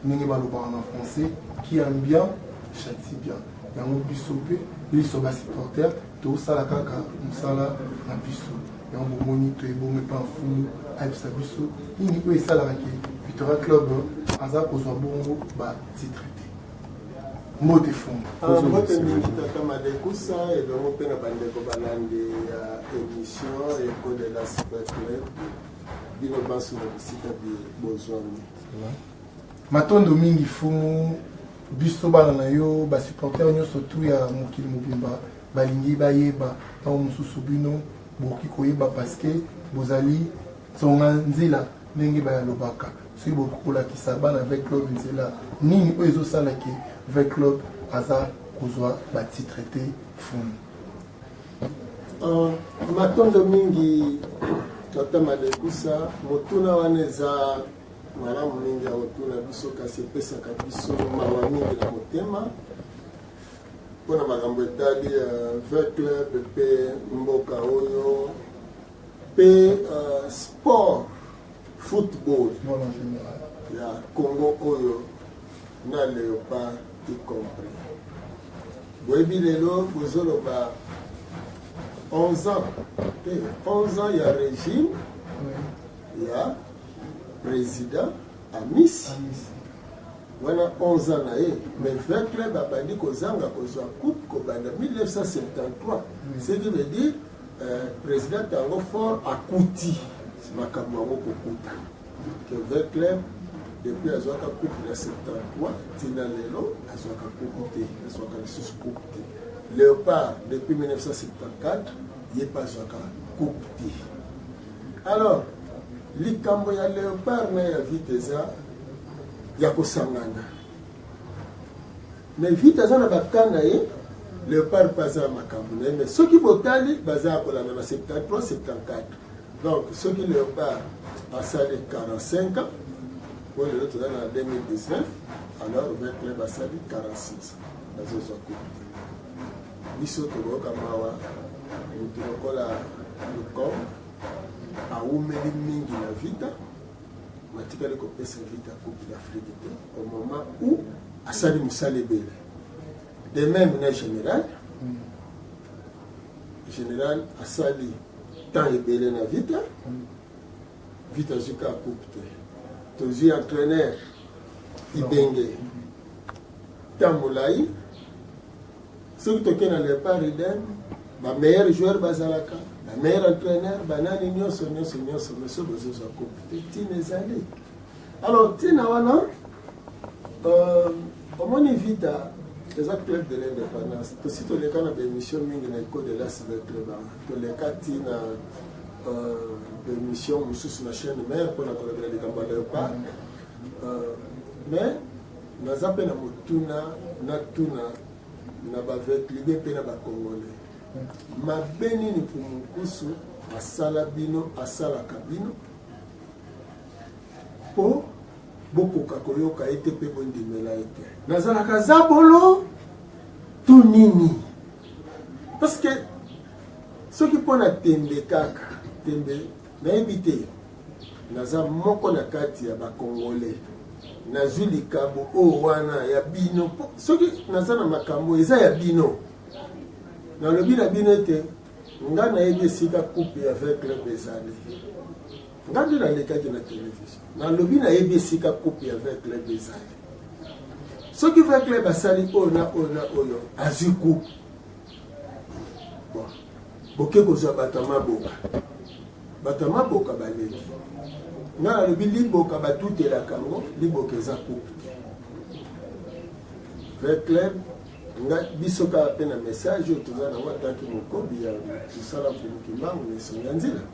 ndenge balobaka na français qui aime bien chati bien yango biso mpe liso basupporter tosala kaka mosala na biso yango bomoni toyebongo epa mfumu ayebisa biso nini oyo esalaka ke victoria club aza kozwa bongo batitre te mbote fumu ah, mbote mingi tata madekusa elongo mpe na bandeko balandi ya émission eko de la super club bino banso na bisika bozwami matondo mingi fumu biso bana na yo basupporter nyonso tu ya mokili mobimba balingi bayeba ntango mosusu bino bokoki koyeba paske bozali nsonga nzela ndenge bayalobaka soki bokoki kolakisa bana avec club nzela nini oyo ezosala ke avec club aza kozwa batitre te fumu Uh, matondo mingi tata Malekusa, motuna wana eza malamu mingi ya kotuna biso, kasi epesaka biso mawa mingi na motema mpo na makambo etali uh, vert club mpe mboka oyo mpe uh, sport football ya Congo oyo na leopard y compris. Boyebi lelo bozoloba 11 ans te 11 ans ya régime ya président amisi wana 11 ans na ye mais vin club abandi kozanga kozwa coupe kobanda 1973 ce qui veut dire euh, président yango fort akuti makambo yango kokuta Kevin Clem depuis azwaka coupe na 73 tina lelo azwaka coupe te azwaka lisusu coupe te léopard depuis 1974 ye mpe azwaka coupe te alors likambo ya léopard na ya vite eza ya kosangana mais vite aza na bakan na ye léopard mpe aza ya makambo na ye mais soki botali baza ya kolanda na 73 74 Donc soki Leopard asali 45 ans po lelo toza na 2019 alors vin club asali 46 bazozwa kupe biso tokoyoka mawa motu lokola lukom awumeli mingi na vita batikali kopesa vita coupe d'afrique te au moment où asali mosala ebele de même na général général asali temps ebele na vita vita azwi ka coupe te tozwi entraîneur ibenge temps molai soki toke na lepart eden bameilleur joueur bazalaka bameilleur entraîneur banani nyonso nyonso nyonso meso bozozwa coupe te ntina ezali Alors, Tina Wana, euh, omoni vita eza club de l'indépendance tosi toleka na baémission mingi na ecole de la cyber club yango toleka ti na euh, baémission mosusu na chaîne mare mpona kolobela likambo ya leopard euh, mais naza mpe na motuna natuna na bavetlide mpe na bacongolais mabe nini mpumunkusu asala bino asalaka bino mpo bokoka koyoka ye te mpe bondimela ye te nazalaka zabolo to nini parceke soki mpo na tembe kaka tembe nayebi te naza moko na kati ya bakongole nazwi likambo oyo wana ya bino soki naza na makambo eza ya bino nalobi na bino ete nga nayebi esika coupe ya 20 club ezali nga nde nalekaki na television nalobi nayebi esika coupe ya vin club ezali soki vin club asali oyo na oyo na oyo azwi coupe boke kozwa bato ya maboka bato ya maboka baleki nga nalobi liboka batutelaka yango liboka eza coupe te vin club nga biso kaka mpe na message oyo toza nango ataki mokobi ya mosala mpo mokimbango na esongi ya nzela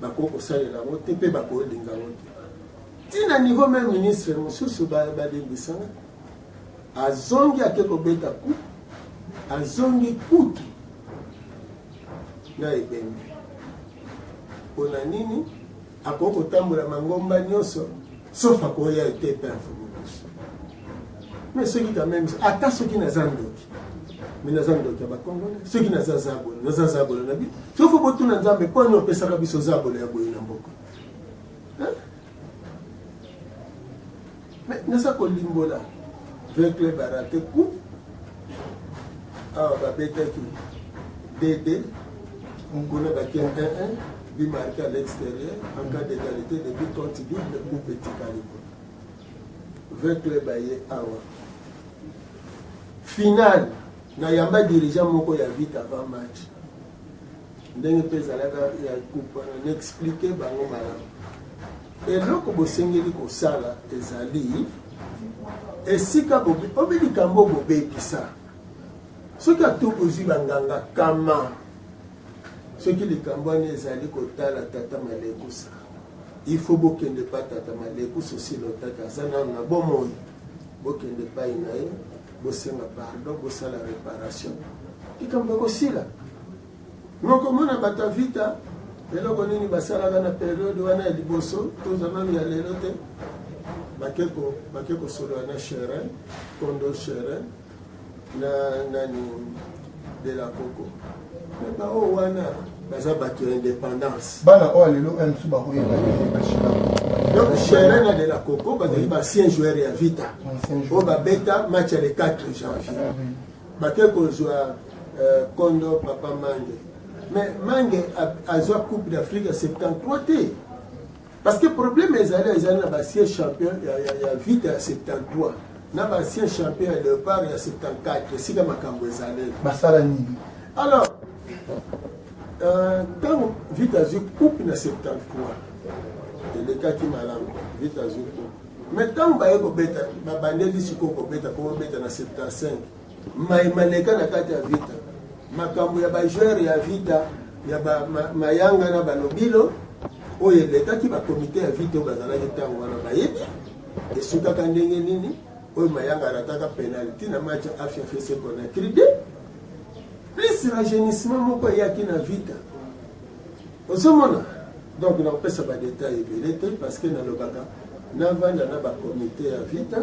bakoki kosalela yango te mpe bakolinga yango te ntina niveau meme ministre mosusu balembisanga azongi ake kobeta ku azongi kutu na ebembe mpo na nini akoki kotambola mangomba nyonso sauf akoya ete perdre bolos mais soki quand même ata soki naza ndoki mais naza ndoki ya bacongolais soki naza zabolo naza zabolo na bi soki fo botuna nzambe mpo ani opesaka biso zabolo ya boye na mboka mais naza kolimbola ve club arate coup awa babetaki dd kuna batie 1 1 But marqué à l'extérieur en cas d'égalité de but compte double ou petit calibre. 20 clubs aye awa. Finale na yamba dirigeant moko ya vite avant match. Ndenge mpe ezalaka ya coupe wana na explique bango malamu. Eloko bosengeli kosala ezali esika bobi obi likambo bobebisa soki atu ozwi banganga kama soki likambo wana ezali kotala tata malekusa ifo bokende pa tata malekusa osilotaki aza nano na bomoi bokende pai na ye bosenga pardon bosala reparation likambo ekosila nokomona bato ya vita eloko nini basalaka na periode wana ya liboso toza nano ya lelo te bake kosolola na cherin kondo cherin na nani de la coco mais baoyo wana baza bato ya indépendance bana oyo lelo oyo mosusu bakoyeba donc chere na de la coco bazali baancien joueur ya vita oyo babeta match ya le 4 janvier ah bake kozwa euh, kondo papa mange mais mange azwa coupe d'afrique ya 73 te Parce que problème ezali ezali na basien champion ya, ya, ya vita ya 73 na basien champion ya leopard ya 74 esika makambo ezaleli basala nini alors ntango euh, vita azwi coupe na 73 elekaki malamu vita azwi coupe mais ntango baye kobeta babandeli sikoyo kobeta po babeta na 75 Mai maleka na kati ya Vita. Makambo ya ba joueurs ya Vita ya ba ma, Mayanga na Balobilo oyo elekaki ba komite ya Vita oyo bazalaki ntango wana bayebi esukaka ndenge nini oyo Mayanga arataka penalty na match ya Afia FC Conakry 2 plus rajeunissement moko eyaki na Vita ozomona donc nakopesa badetail ebele te parce que nalobaka navanda na bakomite ya vita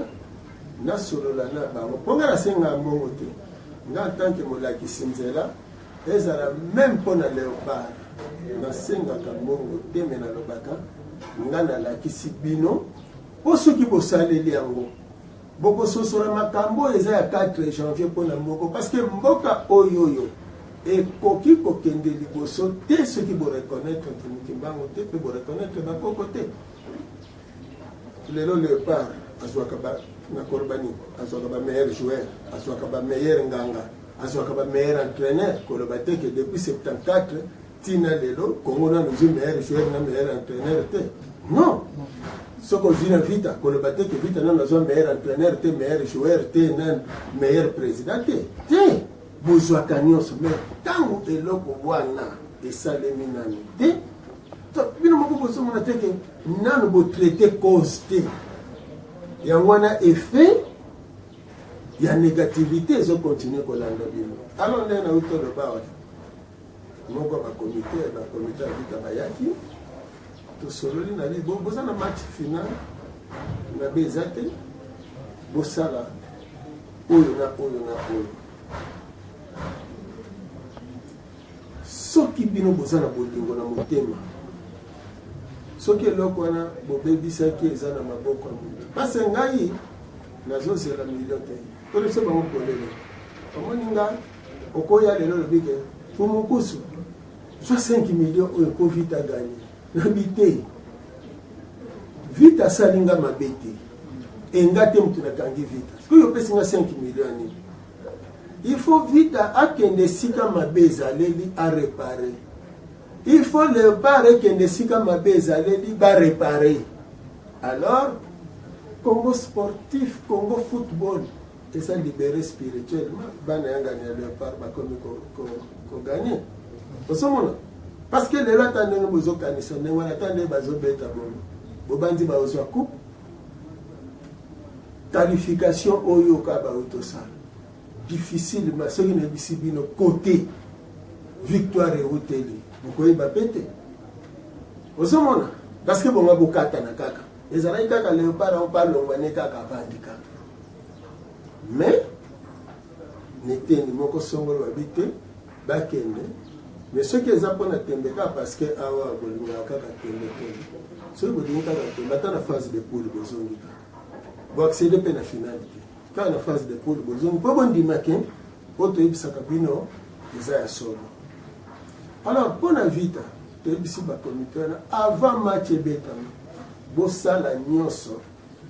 nasolola na bango mpo ngai nasengaka mbongo te ngai ntanke molakisi nzela ezala meme mpo na leopard nasengaka mbongo te me nalobaka ngai nalakisi bino mpo soki bosaleli yango bokososola makambo oyo eza ya 4 janvier mpo na moko parceke mboka oyo oyo ekoki kokende liboso te soki boreconnaitre ntimikimbango te mpe boreconnaitre bakoko te lelo leopard azwaka nakoloba nini azwaka ba meilleur joueur azwaka ba meilleur nganga azwaka ba meilleur entraîneur koloba te ke depuis 74 ntina lelo kongo nano ozwi meilleur joueur na meilleur entraîneur te non soki ozwi na vita koloba te ke vita nano azwa meilleur entraîneur te meilleur joueur te na meilleur président te te bozwaka nyonso mais ntango eloko wana esalemi nano te Donc bino moko bozo mona te que nanu bo traiter cause te. Yango wana effet ya négativité ezo continuer kolanda bino. Alors nde na uto loba wana. Moko ba comité ba comité ya vita bayaki tosololi na bibo boza na match final na be eza te bosala oyo na oyo na oyo Soki bino boza na bolingo na motema, soki eloko wana bobebisaki eza na maboko ya moto, pase ngai nazozela milio te tolese bango polele omoni nga okoya lelo olobi ke pumukusu zwa 5 milio oyo po vita gani nabi te vita asali nga mabe te enga te moto nakangi vita sikoyo opesi nga 5 milio nini Il faut vita akende esika mabe ezaleli a repare. Il faut leopard ekende esika mabe ezaleli ba repare. Alors Congo sportif, Congo football eza libere spirituellement bana yangani ya leopard bakomi koganye ko, ko osomona parce que lelo ata ndenge bozokanisa ndenge wana ata ndenge bazobeta bono bobanzi baozwa coupe Qualification oyo ka baoyo tosala difficile ma soki nayebisi bino kote victoire euteli bokoyeba mpe te ozomona parce que bonga bokatana kaka ezalaki kaka leopard yango mpe alongwa ne kaka avandi kaka mais neteni moko songolo babi te bakende mais soki eza mpona tembe kaka parce que awa bolingaka kaka tembe tembe soki bolingi kaka tembe ata na phase de poule bozongi kaka Bo accéder pe na finale te. Kaka na phase de poule bozongi po bondima ke oyo toyebisaka bino eza ya solo. Alors mpo na Vita toyebisi bakomite wana avant match ebetama bosala nyonso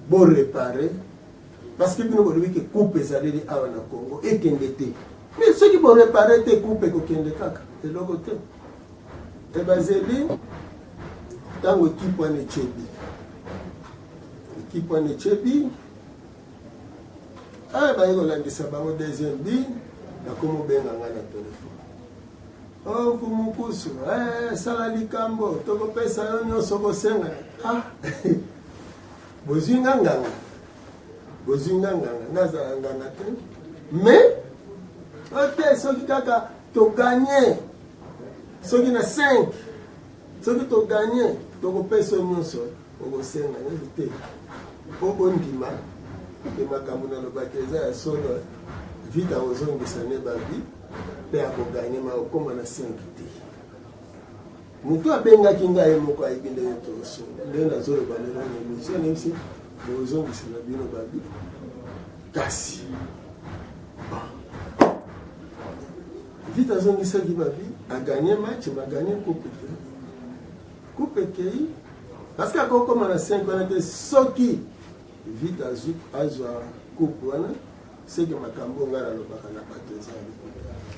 borepare parce que bino bolobi ke coupe ezaleli awa na Congo ekende te mais soki borepare te coupe ekokende kaka eloko te E bazeli ntango ekipe wana echebi ekipe wana echebi aya ah, baye kolandisa bango deuxième bi nakomobenga ngai na telefone o oh, kumukusu eh, sala likambo tokopesa yo nyonso kosenga ah, bozwi nga nganga bozwi nga nganga nazala nganga te mais ote soki kaka toganye soki na 5 soki toganye tokopesa nyonso okosenga nini te mpo ondima ke makambo nalobaki eza ya solo vita ozongisa ne babi mpe akoganye ma okoma na 5 te motu abengaki ngai ye moko ayebi ndenge tosunga ndenge nazoloba lelo na emission nayebisi bozongisa na bino babi kasi Vita azongisaki babi a gagner match ba gagner coupe ekei coupe ekei parce que akokoma na 5 wana te soki vita azwa coupe wana seke makambo oyo ngai nalobaka na bato eza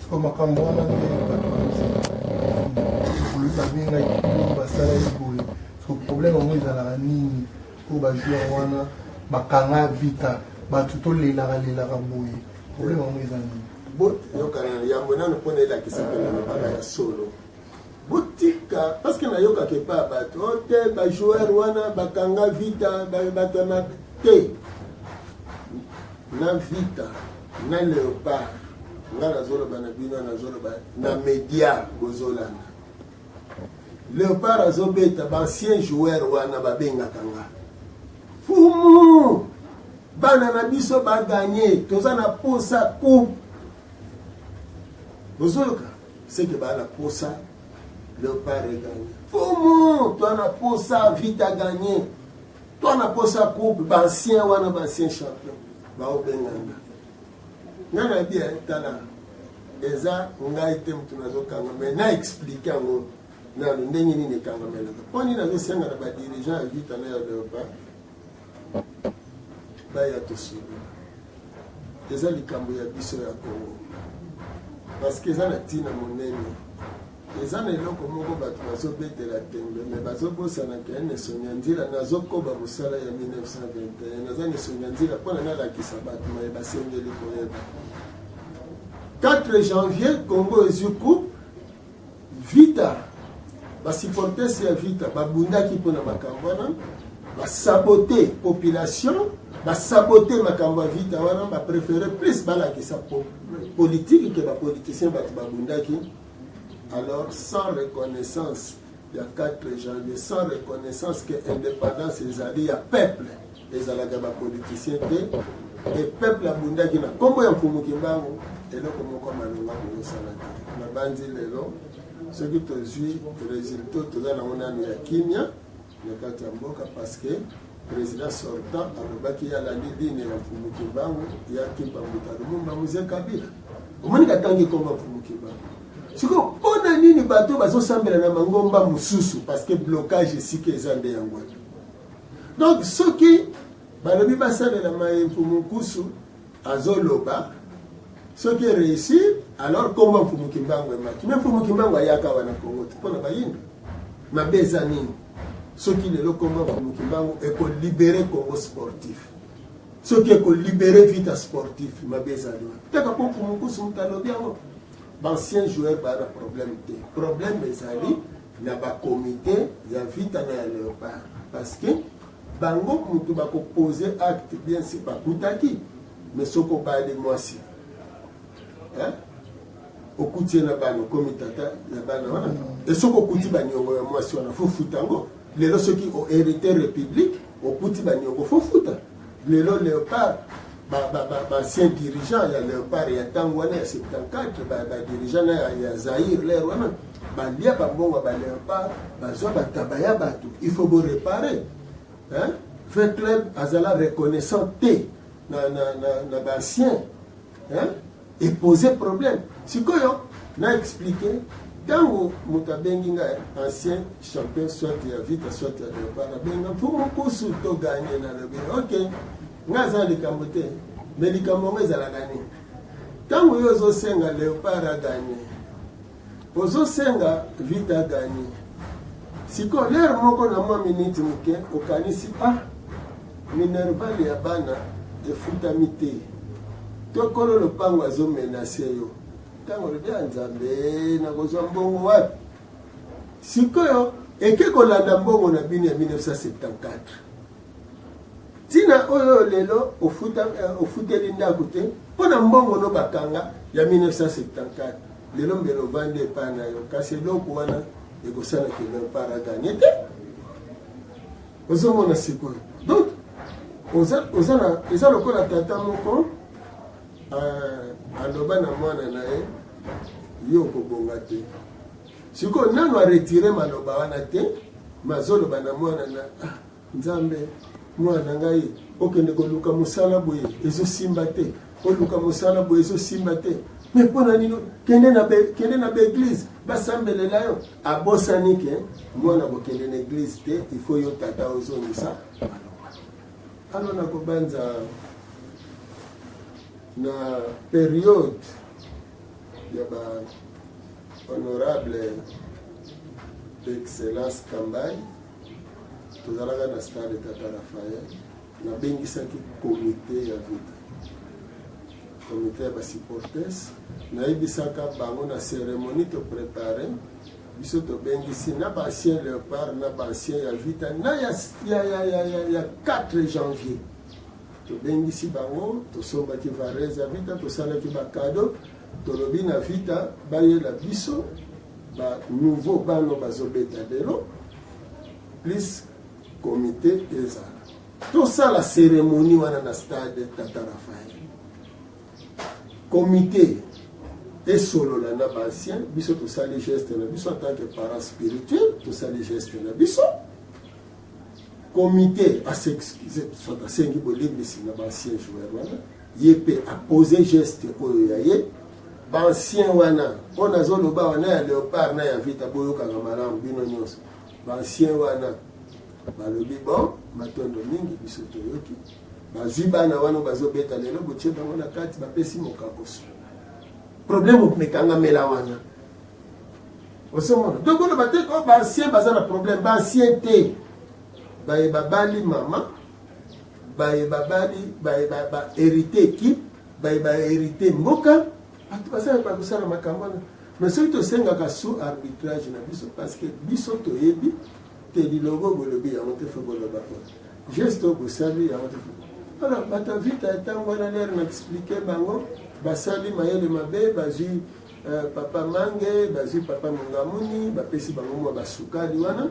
siko makambo wana nde bato babengaki basalaki boye siko problème yango ezalaka nini mpo bajoueur wana bakanga vita bato tolelaka lelaka boye problème yango eza nini boyokana na yambo nano mpo na elakisa mpe na lobaka ya solo botika parceke nayokaka epa ya bato o oh, te bajoueur wana bakanga vita bato na te na vita na leopard nga nazoloba na bino nazoloba na media bozolanda Leopard azobeta ba ancien joueur wana babengaka nga fumu bana na biso baganye toza na posa coupe bozoyoka seke baa na posa leopard eganye fumu toa na posa vite aganye toa na posa coupe baancien wana baancien champion baobenganga nga na bia tala eza ngai te motu nazokanga me na explike yango nano ndenge nini ekangamelaka mpo nini nazosenga na badirigant ya vita na ya leopa baya tosubi eza likambo ya biso ya kongo parce que eza na ntina monene eza na eloko moko bato bazobetela tembe me bazobosana ke nesongia nzila nazokoba mosala ya 1921 naza nesongia nzila mpona nalakisa bato maye basengeli koyeba 4 janvier congo ezwi coupe vita basupportes ya vita babundaki mpona makambo wana basabote population basabote makambo ya vita wana bapréféré plus balakisa politike ke bapoliticien bato babundaki alors sans reconnaissance ya 4 janvier sans reconnaissance que indépendance ezali ya peuple ezalaka bapoliticien te e peuple abundaki na nkombo ya mfumu kimbangu eloko moko malonga kosala te nabanzi lelo soki tozwi resultat toza nango nano ya kimia na kati ya mboka parce que président sortant alobaki ye alandi dine ya mfumu kimbangu ya kimpa mbuta lumumba muze kabila omoni katangi komba mfumu kimbangu sikoyo mpo na nini bato bazosambela na mangomba mosusu parce que blocage esika eza nde yango donc soki balobi basalela maye mfumu nkusu azo loba soki réussir alors kombo mfumu kimbangu emaki me mfumu kimbangu ayaka wana kongo te mpo na bayindo mabe eza nini soki lelo kombo mfumu kimbangu ekolibere kongo sportif soki ekolibere vita sportif mabe ezali wana teka mpo mfumu nkusu moto alobi yango baancien joueur baa na problème te problème ezali na bacomité ya vita na ya léopard parce que Bango mutu bako poser acte bien sur bakutaki mais soki obali mwasi hein? okuti ye na bana okomi tata ya bana wana mm. e soki okuti baniongo ya mwasi wana fofuta yango lelo soki oherite république okuti baniongo fofuta lelo léopard baancien dirigeant ya léopard ya ntango wana ya 74 badirigeant na ya zaire lere wana Balia ba mbongo ya ba leopard, bazwa ba taba ya bato, il faut bo reparer. Hein? Vert Club azala reconnaissant te na, na, na, na ba anciens. Hein? Et poser problème. Sikoyo, na expliquer ntango moto abengi ngai ancien champion soit ya vita soit ya leopard abenga mpo mokusu toganye na lobi ok ngai aza likambo te me likambo yango ezalaka nini ntango yo ozosenga leopard aganye Ozo senga vita a gagner. Siko l'heure moko na mwa minute moke okanisi ah minerval ya bana efutami te. To kolo lopango azo menacer yo. Tango lobi ya Nzambe nakozwa mbongo wapi? Sikoyo eke kolanda mbongo na bino ya 1974. Tina oyo lelo ofuta eh, ofuteli ndako te mpo na mbongo no bakanga ya 1974 lelo mbele ovandi epai na yo kasi eloko wana ekosala kino para ganye te ozomona sikoyo donc eza lokola tata moko eh, aloba na mwana na ye yo okobonga te Sikoyo nanu a retire maloba wana te, mazoloba na mwana na ah, Nzambe, mwana ngai okende koluka mosala boye ezosimba te, oluka mosala boye ezosimba te me mpo na nino kende na kende na baeglize basambelela yo abosani ke mwana kokende na eglize te ifo yo tata ozongisa ano nakobanza na periode ya ba honorable excellence kambai tozalaka na stade tata rafael nabengisaki komite ya vita komite ya basupportes nayebisaka bango na ceremonie toprepare biso tobengisi na baancien leopard na baancien ya vita na ya, ya, ya, ya, ya, ya 4 janvier Tobengisi bango, tosombaki varese ya Vita, tosalaki bakado, tolobi na Vita bayela biso ba nouveau bano bazobeta lelo plus komite ezala tosala seremoni wana na stade tata rafael komite esolola na baancien biso tosali geste na biso en tant que parent spirituel tosali geste na biso comité a s'excuse soit asengi bolendisi na baancien joueur wana ye mpe apose geste oyo ya ye baancien wana mpo nazoloba awa na ya leopard na ya vita boyokaka malamu bino nyonso baancien wana balobi bon matondo mingi biso toyoki bazwi bana wana bazobeta lelo botie bango na kati bapesi mokakoso problème omekangamela wana osemona donc oloba te ko baancien baza na problème baancien te baye babali mama baye babali baye baherite ekipe baye baherite mboka bato bazala bakosala makambo wana mais soki tosengaka sous arbitrage na biso parce que biso toyebi te lilogo bolobi yango te fo boloba po geste oyo bosali yango te alors bato ya vita ntango wana lere na explike bango basali mayele mabe bazwi Euh, papa mange bazwi papa mongamuni bapesi bango mwa basukali wana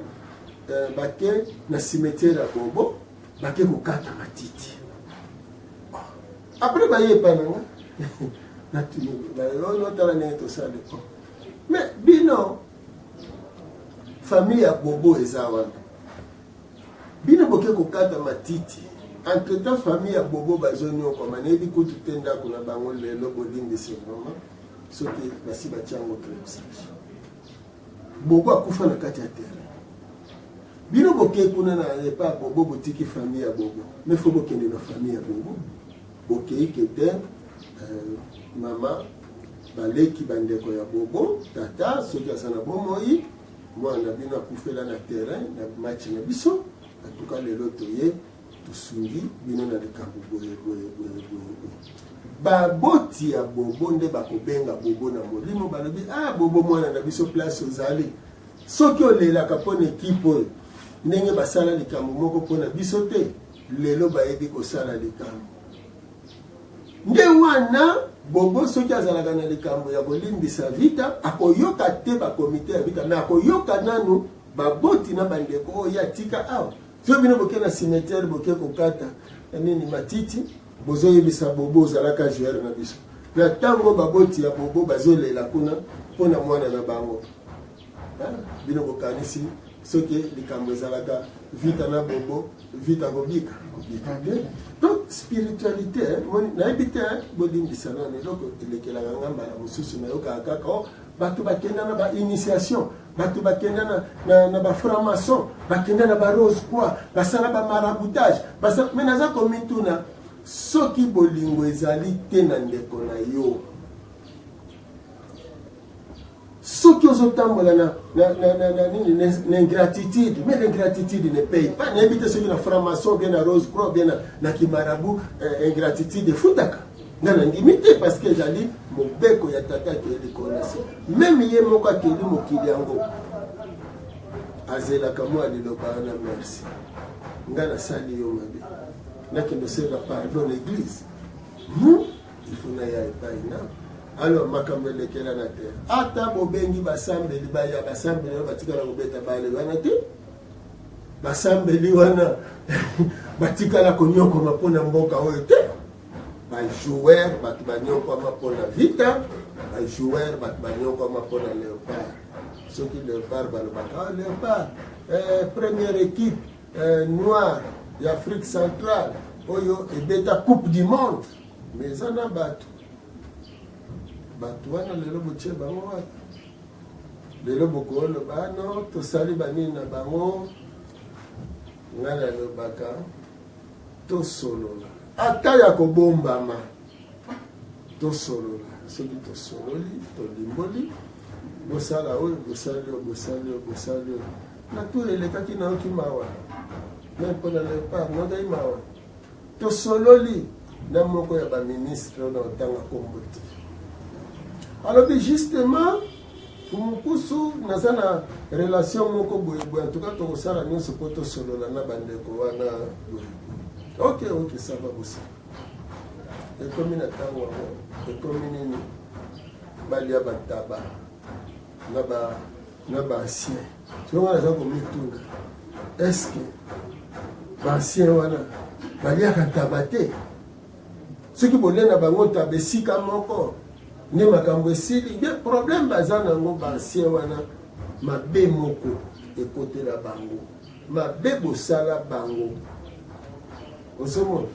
euh, bake na cimetiere ya bobo bake kokata matiti apres baye epai nanga natala ndenge tosali po mais bino famille ya bobo eza wana Bino boke kokata matiti. Entre temps famille ya bobo bazo niokwama nayebi kutu te ndako na bango lelo bolimbisi vraiment soki basi batia yango clebsage bobo akufa na kati ya terrain bino bokei kuna na epa ya bobo botiki famille ya bobo me fo bokende na famille ya bobo bokei kete euh, mama baleki bandeko ya bobo tata soki aza na bomoi Mwana na bino akufela na terrain na match na biso en tout cas lelo toye tosungi bino na likambo boye boye boye boye boye baboti ya bobo nde bakobenga bobo na molimo balobi ah bobo mwana na biso place ozali soki olelaka mpo na ekipe oyo ndenge basala likambo moko mpo na biso te lelo bayebi kosala likambo Nde wana Bobo soki azalaka na likambo ya kolimbisa Vita, akoyoka te ba komite ya Vita, mais akoyoka nanu baboti na bandeko oyo ye atika awa. Soki bino boke na cimetière boke kokata eh, nini matiti, bozoyebisa Bobo ozalaka joueur na biso. Na ntango baboti ya Bobo bazolela kuna mpo na mwana na bango. bino bokanisi soki likambo ezalaka vita na bobo vita kobika kobika te donc spiritualité nayebi te bolimbisa nano eloko elekelaka nga mbala mosusu nayokaka kaka o oh, bato bakenda na bainitiation bato bakenda na, na, na bafranc-maçon bakenda na barose quoi basala bamaraboutage me naza komituna soki bolingo ezali te na ndeko na yo soki ozotambola na, na, na, na, na nini na ingratitude mais l'ingratitude ne paye pas nayebi te soki na franc-maçon bien na rose croix bien na, na kimarabu eh, ingratitude efutaka nga nandimi te parce que ezali mobeko ya tata akeli likolo na se meme ye moko akeli mokili yango azelaka mwa liloba wana merci nga nasali yo mabe nakende osenga pardon na eglise non il faut naya epai na alors makambo elekelana te ata bobengi basambeli baya basambeli wana batikala kobeta bale wana te basambeli wana batikala konyokoma mpo na mboka oyo te bajoueur bato banyokwama mpo na vita bajoueur bato banyokwama mpo na leopard soki leopard balobaka oh, leopard eh, première équipe eh, noire ya afrique centrale oyo ebeta coupe du monde Mais eza na bato bato wana lelo botie bango wapi lelo bokoloba ah no tosali banini na bango ngai nalobaka tosolola ata ya kobombama tosolola soki tosololi tolimboli bosala oyo bosali oyo bosali oyo bosali oyo na tour elekaki nayoki mawa me mpo na lepart nodai mawa Tosololi na moko ya ba ministre oyo naotanga kombo te, alobi justement Tumukusu, naza na relation moko boye boye, en tout cas tokosala nyonso mpo tosolola na bandeko wana boye. Ok, ok, ça va bosala. Ekomi na ntango yango, ekomi nini? Balia bataba na ba na ba ancien soki wana aza komituna eske ba ancien wana baliaka ntaba te soki bolia na bango ntaba esika moko nde makambo esili nde problème baza nango ba ancien wana mabe moko ekotela bango mabe bosala bango osomona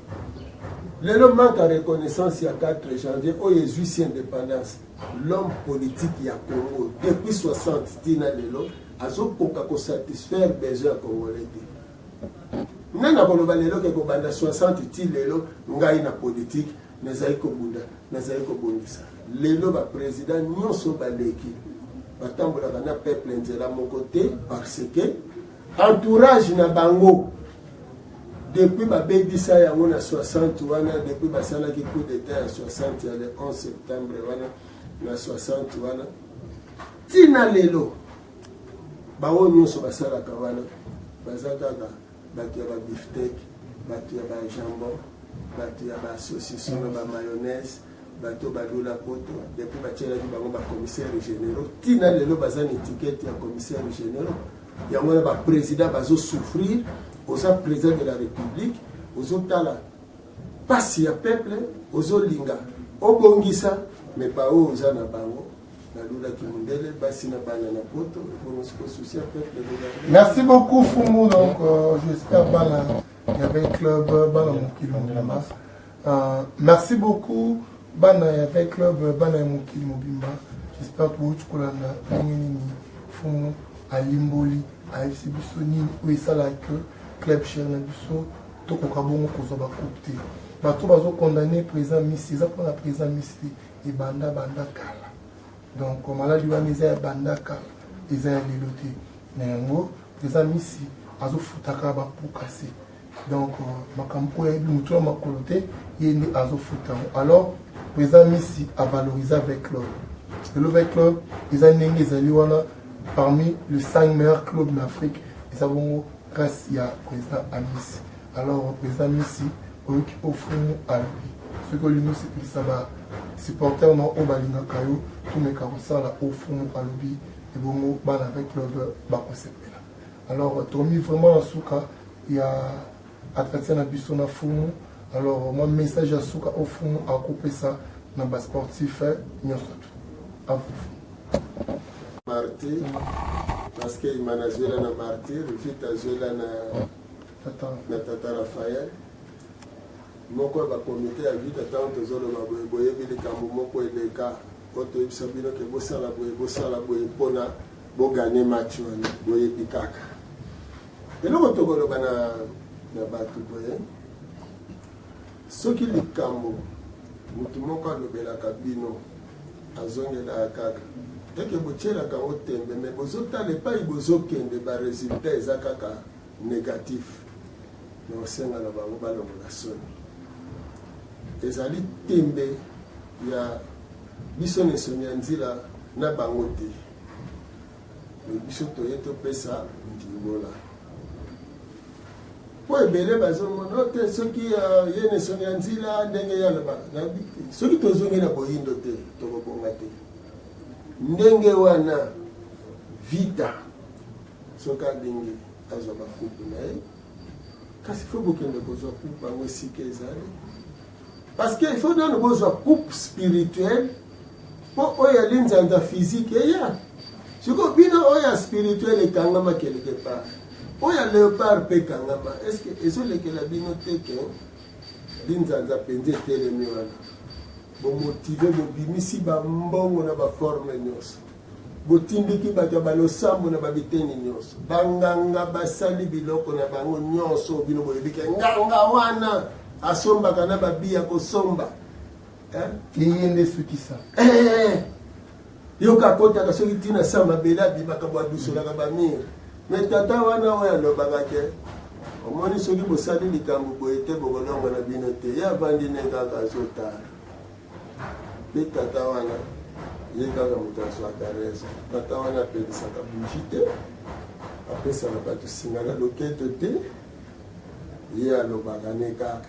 lelo manque ya reconnaissance ya 4 janvier oyo ezwisi indépendance L'homme politique ya Congo depuis 60 ti na lelo azokoka ko satisfaire besoin ya Congolais te. Nani akoloba lelo ke kobanda 60 ti lelo ngai na politique nazali kobunda nazali kobongisa lelo bapresident nyonso baleki batambolaka na peuple nzela moko te parce que entourage na bango depuis babebisa yango na 60 wana depuis basalaki coup d'état ya 60 ya le 11 septembre wana na 60 wana ntina lelo baoyo nyonso basalaka wana baza kaka bato ya babiftek bato ya bajambon bato ya basosiso na bamayonnaise bato ba lula poto depuis batielaki bango ba commissaire generaux tina lelo baza na etikete ya commissaire generaux yango wana ba président bazo souffrir oza président de la république ozotala mpasi ya peuple ozolinga obongisa me baoyo oza na bango nalulaki mondele basi na bana na poto ekonosikosusi ya peuple merci beaucoup fungu donc euh, j'espère bana ya club bana mokili mobimba Uh, merci beaucoup bana ya Vin Club, bana ya mokili mobimba. J'espère que bouti kolanda ndenge nini fumu alimboli ayebisi biso nini oyo esalaka que club cher na biso tokoka bongo kozwa bakupe te bato bazokondamne président misi eza mpona président misi te ebanda banda kala donc maladi wana eza ya banda kala eza ya lelo te na yango président misi azofutaka bapokase donc euh, makambo oyo ayebi motu ya makolo te ye nde azofuta yango alors président misi avalorise avec club lelo avec club eza ndenge ezali wana parmi le 5 meilleur club na afrique eza bongo grâce ya président amisi alors président misi oyoki ofumu alobi soki olingi osepelisa ba supporter na oyo balingaka yo tomeka kosala ofumu alobi ebongo bana avec club bakosepela Alors tomi vraiment na suka ya attraction na biso na fumu alors mwa message ya suka oyo fumu akopesa na basportif eh, nyonso tu avufu martyr parce que imana azwela na martyr vite azwela na na tata rafael moko ya bakomite ya vite ntango tozoloba boye boyebi likambo moko eleka oyo toyebisa bino ke bosala boye bosala boye mpona Bo gagner match wana boyebi kaka. Eloko tokoloba na na bato boye soki likambo motu moko alobelaka bino azongelaka kaka eke botyelaka yango tembe me bozotala epai bozokende baresultat eza kaka négatif me osenga na bango balongola soni ezali tembe ya biso na nsoni ya nzila na bango te me biso toye topesa ndimbola mpo ebele bazomona te soki euh, ye nesoni ya nzila ndenge ye alobaka nayebi te soki tozongi na boyindo te tokobonga te ndenge wana vita soki alingi azwa bakutu na ye kasi fo bokende kozwa coupe yango esika ezali parce que il faut nano bozwa coupe spirituelle mpo oyo ya linzanza physique eya sikoyo bino oyo ya spirituel ekangama quelque part oyo ya leopard mpe ekangama est ce que ezolekela bino te ke linzanza mpenza etelemi wana Bo motive bobimisi ba mbongo na ba forme nyonso. Botindiki bato ya balosambo na babiteni nyonso. Banganga basali biloko na bango nyonso bino boyebi ke nganga wana asombaka na babi ya kosomba. Eh? Eye nde sukisa. Eh! Yo ka kotaka soki ti na sa mabele abimaka bo adusolaka ba mire. Me tata wana oyo alobaka ke omoni soki bosali likambo boye te bokolongo na bino te. Ye avandi ne kaka azotala. Pe tata wana ye kaka moto azwaka rezo. Tata wana apelisaka buji te, apesaka bato singa na loketo te, ye alobaka ne kaka.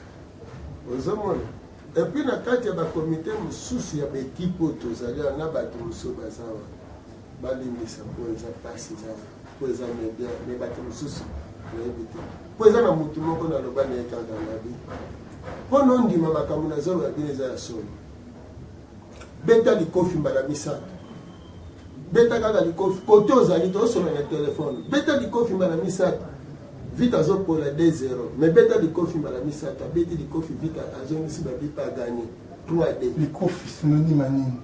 Ozomona? Et puis na kati ya ba comite mosusu ya ba ekipe oyo tozali awa na bato mosusu baza wana balimbisa mpo eza mpasi eza mpo eza media me bato mosusu nayebi te mpo eza na motu moko naloba na ye kaka nabi mpo nondima makambo nazoloba bino eza ya solo beta likofi mbala misato beta kaka likofi kote ozali tosolola na telefone beta likofi mbala misato vite azopola 2 0 mais beta likofi mbala misato abeti likofi vite azongisi babipa aganye 3 d likofi synonyme ya nini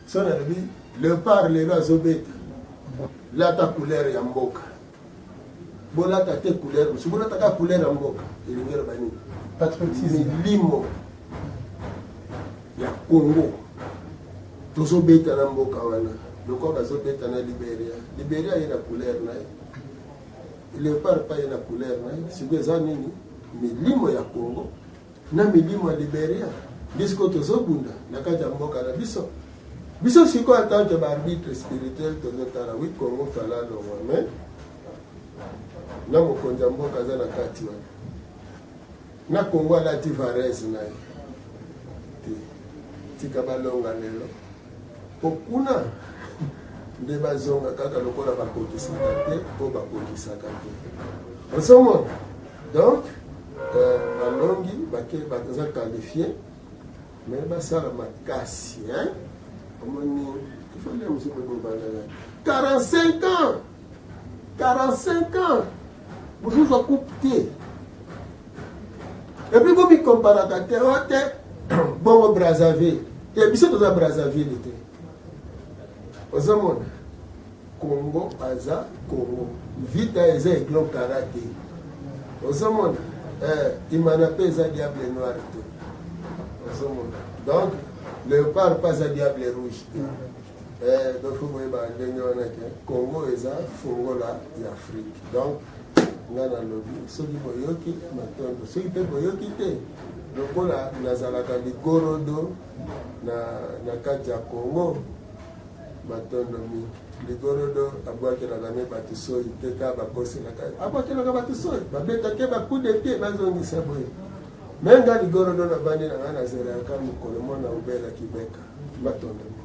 so nalobi lepart lelo azobeta lata couleur ya mboka bolata te couleur mosusu bolata kaka couleur ya mboka elingi eloba nini patriotisme milimo ya congo tozobeta na mboka wana lokola bazobeta na liberia liberia ye na couleur na ye leopard pa ye na couleur na ye sikoyo eza nini milimo ya congo na milimo ya Liberia nde sikoyo tozobunda na kati ya mboka na biso biso sikoyo atanke baarbitre spirituel tozotala wi congo fala longwa me na mokonzi ya mboka aza na kati wana na congo alati varese na ye te tika balonga lelo po kuna nde bazonga kaka lokola bakokisaka te po bakokisaka te osomona donc euh, balongi bake baza qualifie me basala makasi hein omoni ifo nde mosuku bobandana 45 ans 45 ans bozozwa coupe te epuis bomikomparaka te o te bongo brazzaville te biso toza brazzaville te ozomona congo aza congo vita eza eglo kara te ozomona eh, imana mpe eza diable noir te ozomona donc leopard mpe aza diable rouge te Eh, donc faut boyeba ndenge wana ke congo eza fongola ya afrique donc nga nalobi soki boyoki matondo soki mpe boyoki te lokola nazalaka ligorodo na, na kati ya congo matondo mingi ligorodo abwakelaka ne bato soi te ka bakoselaka abwakelaka bato soi babetake bakude te bazongisa boye me nga ligorodo nabandi na ngai nazela yaka mokolo mwana obela kibeka matondo mingi